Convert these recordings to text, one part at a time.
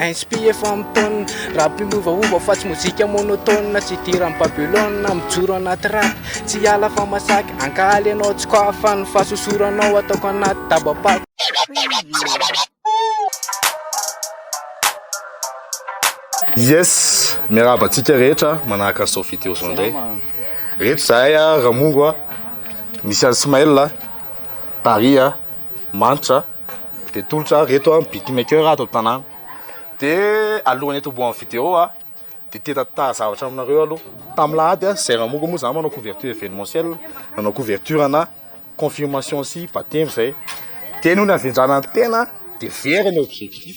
Inspire efa mitôna Rap miovaova fa tsy mozika monotone Tsy hidiran'i Babylone Mijoro anaty rap Tsy hiala fa masaky Ankaly ianao tsy quoi Fa ny fahasosoranao Ataoko anaty daba-pako Yes! Miarahaba antsika rehetra manahaka an'i Sophie Teo izao indray. Reto izahay Ramongo, misy an'i Smail, Paris, Manitra. de tolotra ah reto ah beat maker ato an-tanàna de alohan'ny hitobohan'ny video ah de te tantara zavatra aminareo aloha tamin'ny alahady ah zay raha moko moa zah manao couverture evenementielle nanao couverture ana confirmation sy bapteme zay de noho ny havendrana ny tena de very ny objectif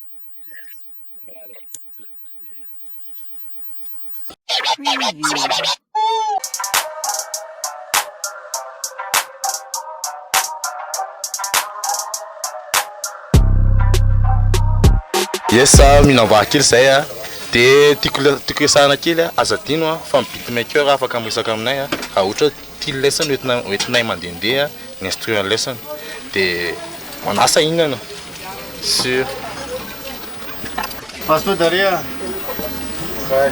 Yes, mihinam vary kely izay a. Dia tiako tiako resahana kely a, aza adino a fa ny beatmaker afaka miresaka aminay raha ohatra Ity lesson hoentina hoentinay mandehandeha ny instrument lesson dia manasa hihinana sur Passe toi derrière. Ouais.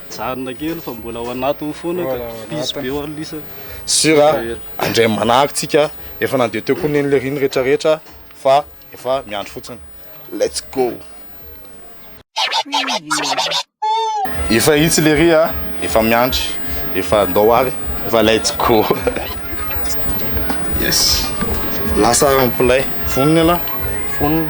Mijanona kely fa mbola ao anatiny foana ka. Busy be ho'a lisany. Sur a, andray manahaka tsika, efa nandeha teo koa neny le riny rehetra rehetra fa efa miandry fotsiny. Let's go! Efa hitsy le ry a, efa miandry, efa ndao ary, efa let's go! Yes! Lasa mpilay. Vonona ialahy? Vonona.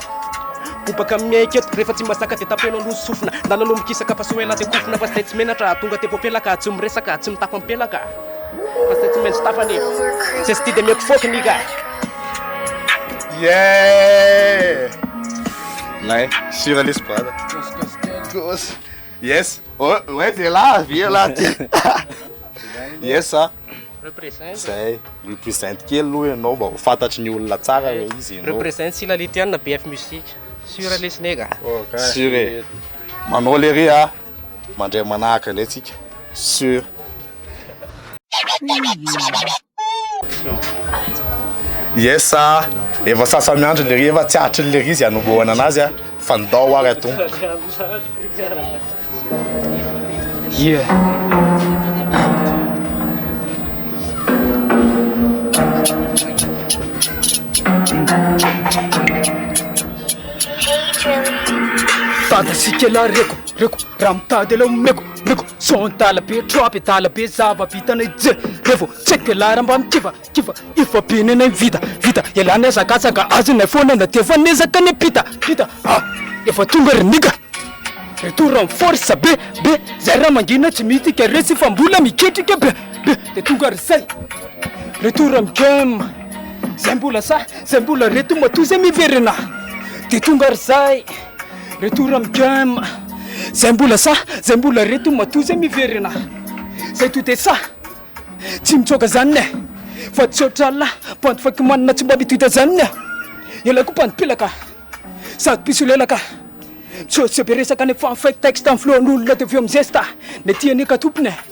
Bobaka amin'ny aiko eto Rehefa tsy mazaka dia tapeno aloha ny sofina Ndana aloha mikisaka fa soa ela dia kofona Fa izay tsy menatra tonga dia voafelaka Tsy miresaka, tsy mitafy ampelaka Fa izay tsy maintsy tafany e Izay tsy tia dia mety fôky ny ka Yeah! Lay, sure lesy brother. Gossy. Yes oe zay lahy avy eo lahy ty yes a Represent. zay represent kely aloha ianao mba ho fantatry ny olona tsara hoe izy ianao Represent Sila Litiana BF Music. Sûr lesy nega. sur e manao lery a mandray manahaka indray tsika sur Yes a, efa sasa miandry lery efa tsy hatry ny lery izy anombohana anazy a, fandao ary atomboka. Yeah. Tada sy kela reko, reko, raha mitady aleo meko Reko son tala be trap e tala be zava bitanay je Revo check e lara mba mikiva kiva Efa be nenay vita vita Elah niazakatsaka azy nay foana na defa nezaka ne pita pita ah Efa tonga ry nigga Retour en force be be Zay ra mangina tsy mihitika resy fa mbola miketrika be be De tonga ry zay Retour am game Zay mbola sa zay mbola reto matoa zay miverena De tonga ry zay Retour am game Zay mbola sahy Zay mbola reto Matoa zay miverina Zay to de sahy Tsy mitsoaka zany eh Fa tsy otra la Bandy fake manina tsy mba mitota zany eh Ela ko bandy pelaka Sady mpisolelaka Misehoseho be resaka nefa fake texte Amin'ny flow an'olona de avy eo mizesta Ny aty anie ka tompony eh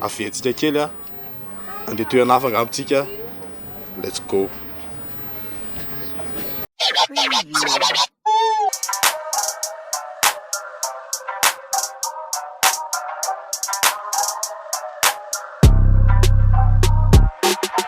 Averitsika kely a. Andeha toerana hafa angamba tsika. Let's go.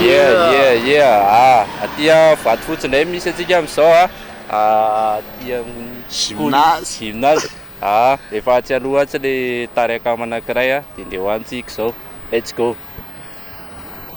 Yeah, yeah, yeah. Ah, aty ah, vato fotsy indray misy antsika amin'izao ah. Ah, aty amin'ny sekoly Gymnase. gymnase. Ah, efa atsy aloha atsy le tarika manankiray ah, dia ndeha ho any tsika izao. Let's go.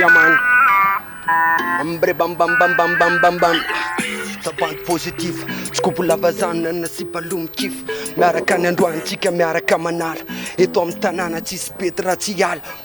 Yaman Ambre bam bam bam bam bam bam bam Savandy positif Tsy kobo lava zanona na sipa loha mikif Miaraka any androany tsika miaraka manala Eto amin'ny tanàna tsisy pety raha tsy hiala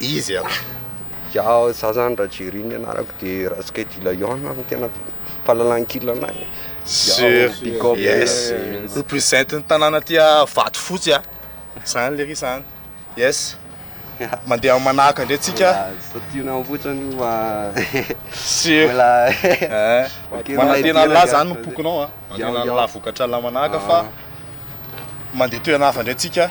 izy an! Ya za zany raha Jerry ny anarako de Raskedy Lion no tena fahalalankila anay e! Sur yes represent ny tanàna aty Vatofotsy a! Zany lery zany yes! Mandeha manahaka ndray tsika! Mbola tiana ao fotsiny io fa Sur eh! Manantena an'lah zany ny pokonao a! Manantena an'lah vokatra lamanahaka fa mandeha toerana hafa ndray tsika!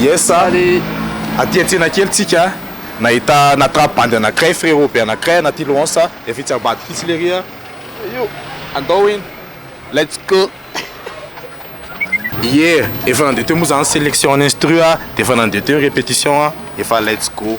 Yes a! Aty an-tsena kely tsika nahita natrap bandy anankiray, frérot be anankiray anaty louances a! Efa etsy ambadika etsy lery a! Io! Andao iny! Let's go! Ie! Efa nandeha teo moa zany selection an'instru a! D'efa nandeha teo ny répétition a! Efa let's go!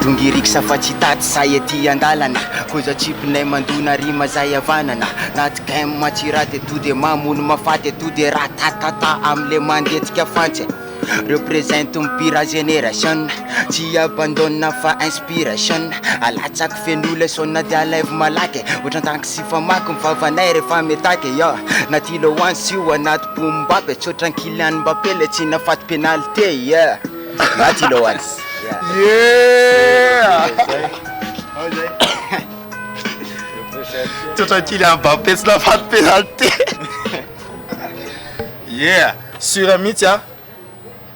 Dongiriksa fa tsy taty zay aty andalana Koza tsipinay mandona rima zay havanana Naty game tsy raty eto de mamono mafaty eto de ratatata amle mandetsika fantsy Represent ny pira generation Tsy abandonne fa inspiration Alatsako feno le son de alaivo malaky Otran-tanky sy famaky ny vavanay refa mitaky yeah Naty lohantsy io anaty Boom bap e, tsotra an'i Kylian Mbappé le tsy nahafaty penalty e, yeah! Maty i Loans, yeah! Tsotra an'i Kylian Mbappé tsy nahafaty penalty e, yeah! Sur mihitsy an!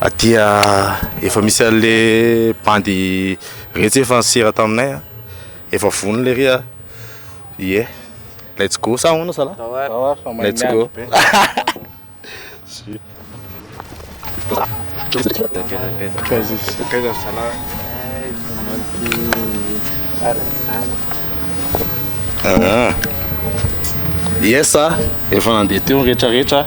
Aty efa misy anle bandy retsy efa nisera taminay a, efa vonona le ry a, ie, let's go sa ahoana zalah? Let's go. Yes a, efa nandeha teo ny retraretra.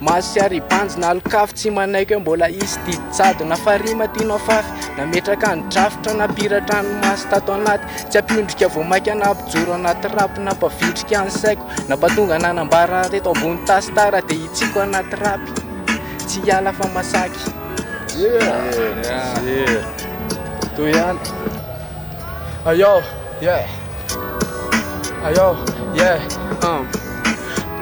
Maso sy haribanjy na alok'afo Tsy manaiky hoe mbola hisy didy jadona Fa rima tianao fafy Nametraka ny drafitra Nampiratra ny maso tato anaty Tsy hampiondrika vao mainka Nampijoro anaty rap Nampavitrika ny saiko Nampatonga nanambara Teto ambony tasy Tara dia hitsiko anaty rap Tsy hiala fa masaky Yeah! Toy ihany Ayao! Yeah, ayo, yeah, uh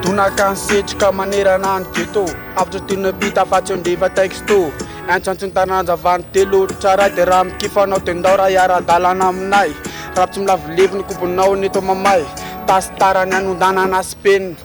Donaka ny setroka manerana ny ghetto Avotra toy ny mpita fa tsy eo ndeva texto Antsantsin'ny taranja vany telo ohatra ray Dia raha mikifanao dia ndao raha hiara-dalana aminay Rap tsy milavo levy ny kobonao ny eto mamay Tasy tarany anondanana sy penina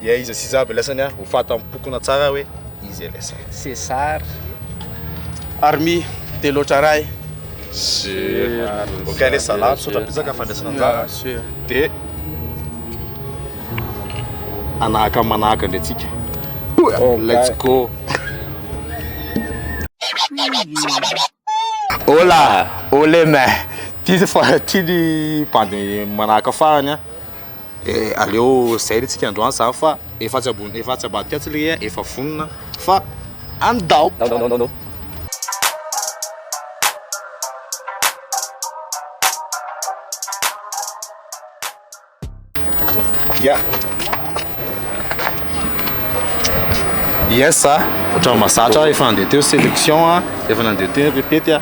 Dia iza sy iza avy lesany ah? Ho fatam-pokona tsara hoe iza lesy. Cesar. Army, dia loatra ray. Sur. Ok lesy zalahy, misaotra betsaka fandraisana anjara. Sur. Dia hanahaka ny manahaka indray tsika. Let's go. Hola! Ole meh! Ty fa ty ny bandy manaraka farany an! Eh, aleo zay le tsika androany zany fa efa tsy ambony efa tsy ambadika atsy le eh, efa vonona fa andao! Ya. Yes a, ohatran'ny mazatra efa nandeha teo sélection a, efa nandeha teo répète a,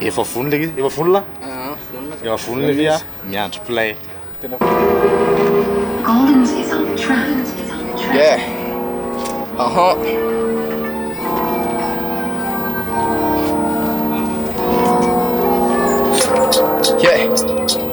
efa vonona le efa vonona, Ah, vonona. efa vonona le a, miandry play. Collins is on the track. Collins is on the track. Yeah. Aha. Yeah.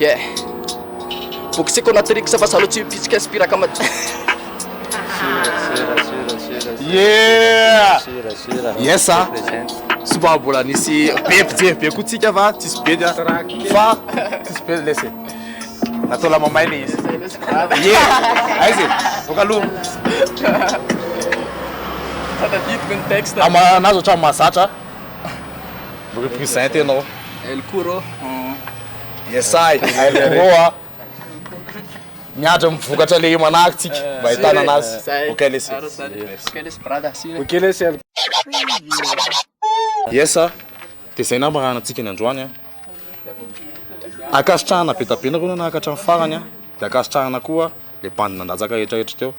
Yeah. Boky tsy konatrix fa salo tsy pitsika inspiraka madio. Yeah! Yes ah. Tsy mba mbola nisy be mpijery be koa tsika fa tsisy be dia fa tsisy be lesy. Natao lamamay le izy. Yeah. Aizy. Boka aloha. Tadidiko ny texte. Amanazy ohatran'ny mahazatra. Represent ianao. El Kuro. Yes I, El Kuro a. Miandry ny vokatra le manahaka tsika mba ahitana anazy. Ok lesy. Ok lesy brada. Ok lesy El Yes a. De zay nama raha anantsika ny androany a. Ankasitrahana be da be nareo nanahaka hatramin'ny farany a. De ankasitrahana koa le bandy nandatsaka retraretra teo.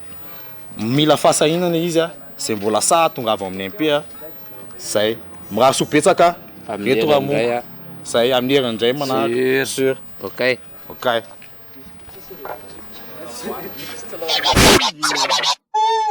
Mila fahasahiana le izy a. Zay mbola sahy tongava ao amin'ny MP a. Zay. Mirary soa betsaka Amin'ny eto herin'ny indray Ramongo. a. Zay, amin'ny herin'ny indray manahaka. Sur. Sur. Okay. Okay.